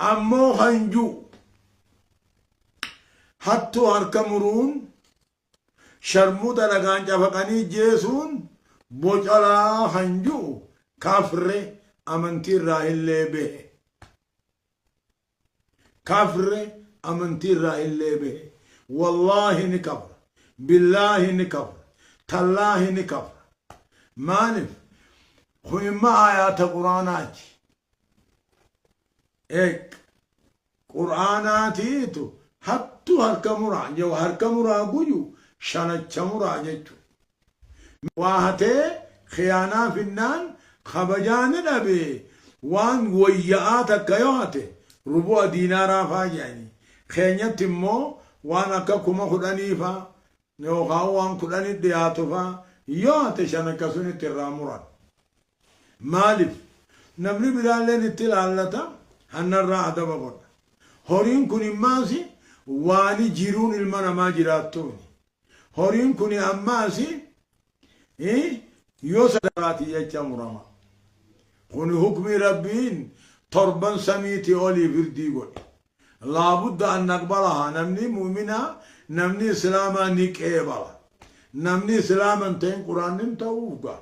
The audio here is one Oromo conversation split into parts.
Ammoo kan ju'u hattuu harka muruun sharmuuxa dhagaan cafaqanii jeesuun bocalaa kan ju'u kafre amantii irraa illee behe. Kafre amantii irraa illee behe. Wallaahi ni kafra. Billaahi ni kafra. Tallaahi ni kafra. Maaliif? Kun imma aayaata quraanaati. eeg qur'aanaatiitu hattu harka muraa jewa harka muraa guyu shanacha muraa jechu waa hatee khiyaanaa finnaan kabajaa ni dhabee waan woyya'aa takka yoo hate rubu'a diinaaraa faa jedhanii keenyatti immoo waan akka kuma kudhanii faa yookaan waan kudhanii dhiyaatu faa yoo hate shan akkasunitti irraa muran. Maalif? Namni biraalleen itti ilaallata, hannarraa adaba godha. Horiin kun immaas waani jiruun ilma namaa jiraattuuni. Horiin kuni ammaas yoo sadaqaati jecha murama. Kuni hukmii Rabbiin torban samiiti olii firdii godhe. Laa budda an naqbalahaa namni mu'minaa namni islaamaa ni qeebala. Namni islaama hin ta'in quraan nim ta'uuf gaa.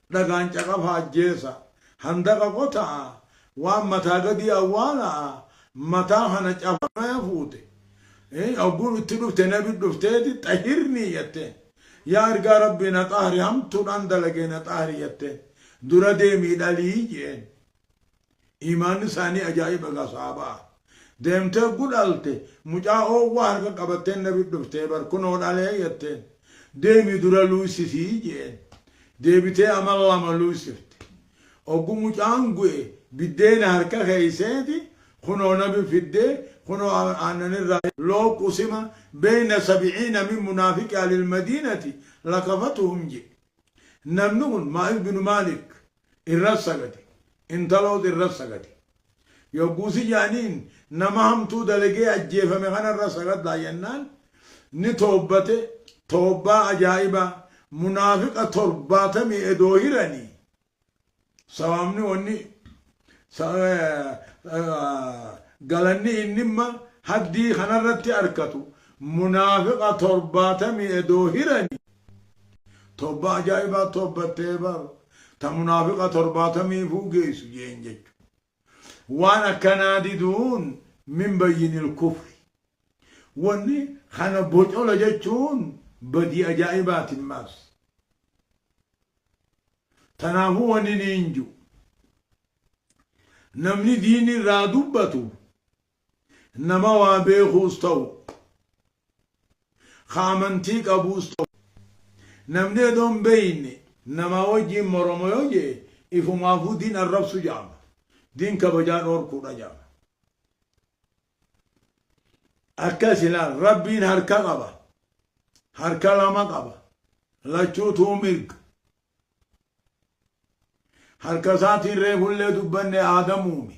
Dhagaan caqafa ajjeesa. Handaqa qota'a, waan mataa gadii awwaala'a, mataa kana cafamaya fuute. Hogguu itti dhufte nabi dhufteeti xahirnii jatteen. Yaa ergaa Rabbii na xahri hamtuudhaan dalagee na xahri jatteen. Dura deemii dhalii je'een. iimaanni isaanii ajaa'iba gaa sahaabaa deemtee gudhalte mucaa oowwaa harka qabatteen nabi dhuftee bar kunoo dhalee jetteen deemi dura luysisii jeen deebitee amal lama luysifte oggu mucaan gu'e biddeena harka keeyseeti kunoo nabi fiddee kunoo aannan irraa loo qusima beeyna sabiciina min munaafiqi alil madiinati lakafatuhum jee namni kun maa'is binu maalik irra sagade, intaloos irra sagade. Yogguusi jaaniin nama hamtuu dalagee ajjeefame kana irra sagaddaa jennaan ni toobbate, toobbaa ajaa'ibaa munaafiqa torbaatamii edoo hiranii sawaamni wanni galanni innimma haddii kanarratti arkatu munaafiqa torbaatamii edoo hiranii Towbaa ajaa'ibaa towbattee bar ta munaafiqa torbaatamiifuu geessu jeen jechu. Waan akkanaa diduun min bayyinil kufri. Wanni kana bocola jechuun badii ajaa'ibaati mas. Tanaafuu wanni niin ju. Namni diinirraa dubbatu Nama waa beekuus ta'u, ka amantii qabuus ta'u, namni edoo hin beeyne namaa wajjiin moroma yoo je'e, ifumaafuu diin arrabsu je'ama. Diin kabajaa dhoorkuudha je'ama. Akkas ilaal, Rabbiin harka qaba, harka lama qaba, lachuutuu mirga. Harka isaatiin reefullee dubbanne Aadam uume.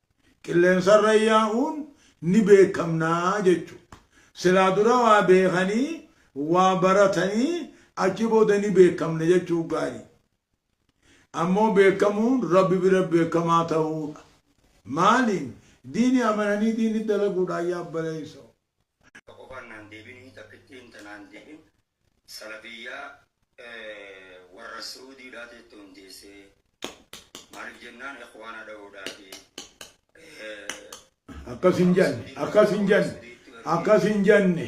qilleensarra yaa'uun ni beekamna jechu. Silaa dura waa beekanii, waa baratanii achi booda ni beekamna jechuun gaari. Ammoo beekamuun Rabbi bira beekamaa ta'uudha. Maaliin? Diini amananii diini dalaguudhaan yaa obboleessoo. Takka qofaan naan deebini takkittiin ta naan deebin salafiyyaa warra su'uudii dhaa teettu hundeesse maalif jennaan ikhwaana dha'uudhaafi Akkas hin janne akkas hin janne akkas hin janne.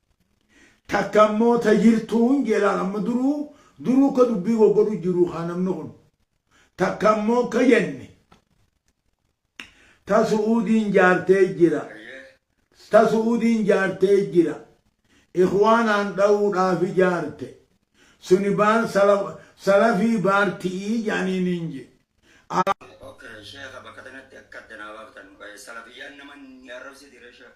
Takka immoo ta jirtuu hin jee laal amma duruu duruu ka dubbii goggodhu jiruu kaa namni kun. Takka immoo akka jenne ta su'uudiin jaartee jira ta su'uudiin jaartee jira ikhwaanaan dhawuudhaaf ijaarte suni baar salafii baarti'ii ja'aniin hin je, aa. Ok sheekha bakka tanatti akka adda naa baaftan waa'ee salafiyyaan nama ni arrabsiti ree sheekh.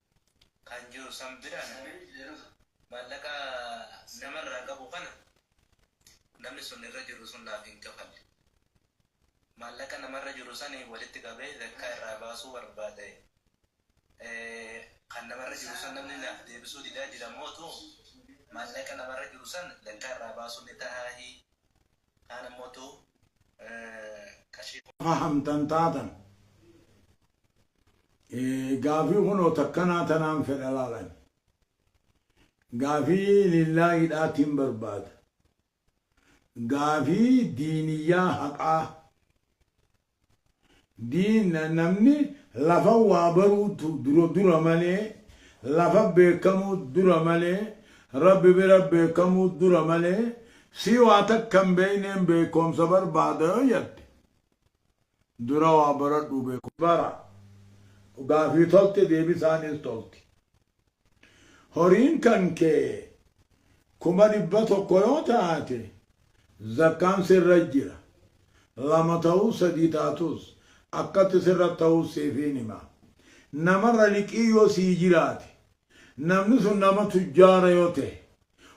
kan jiru san bira maallaqa nama irraa qabu kana namni sun irra jiru sun naaf hin kafalle maallaqa nama irra jiru sanii walitti qabee zakkaa irraa baasuu barbaade kan nama irra jiru san namni naaf deebisuu didaa jira mootu maallaqa nama irra jiru san zakkaa irraa baasuu ni tahaahii kaan ammoo tu qarshii kuma. fahamtan taatan gaafii kunoo takkanaa tanaan fedha laalan gaafii lillaahidhaatiin barbaada gaafii diiniyyaa haqaa D. Namni lafa waa baruutu dura dura malee, lafa beekkamuu dura malee, Rabbi bira beekkamuu dura malee, sii waa takka hin beekneen beekkoomsa barbaada yoo jatte, dura waa baradhuu beekkoomsa bara. Gaafii tolti deebisaanis tolti. Horiin kan kee kuma dhibba tokko yoo taate zakkaan sirra jira. Lama ta'us sadii taatus akkatti sirra ta'us siifiin hima. Namarra liqii yoo sii jiraate namni sun nama tujjaara yoo ta'e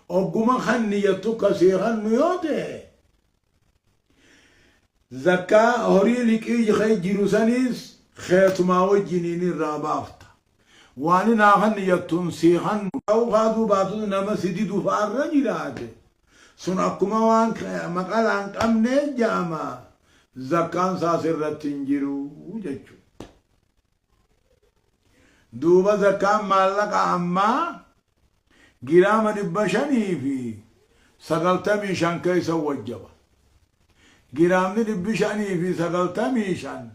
ogguma kanni jettu ka sii kannu yoo ta'e Zakkaa horii liqii kee jiru saniis keetumaa wajjiniin irraa baafta. Waan hin haafanne jattuun sii kannu ta'uu kaatuu baatus nama si didu fa'a irra jiraate sun akkuma waan maqalaa hin qabnee ja'ama zakkaan isaa sirratti hin jiru jechuudha. duuba zakkaan maallaqa ammaa giraama dhibba shanii fi sagaltamii shan keessa wajjaba giraamni dhibbi shanii fi sagaltamii shan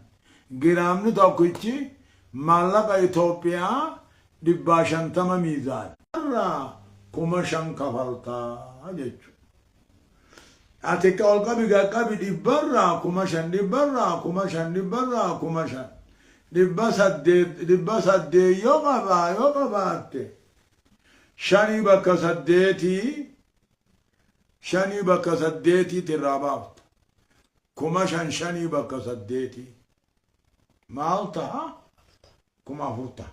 giraamni tokkichi maallaqa Itoophiyaa dhibbaa shantama miizaana irraa kuma shan kafaltaa jechuudha. Ati akka ol qabi gad qabi dhibbarraa kuma shan dhibbarraa kuma shan dhibbarraa kuma shan dhibba saddeet dhibba saddeet yoo qabaa yoo qabaatte shanii bakka saddeetii shanii bakka saddeetiitti irraa baafta kuma shan shanii bakka saddeetii maal taha kuma afur taha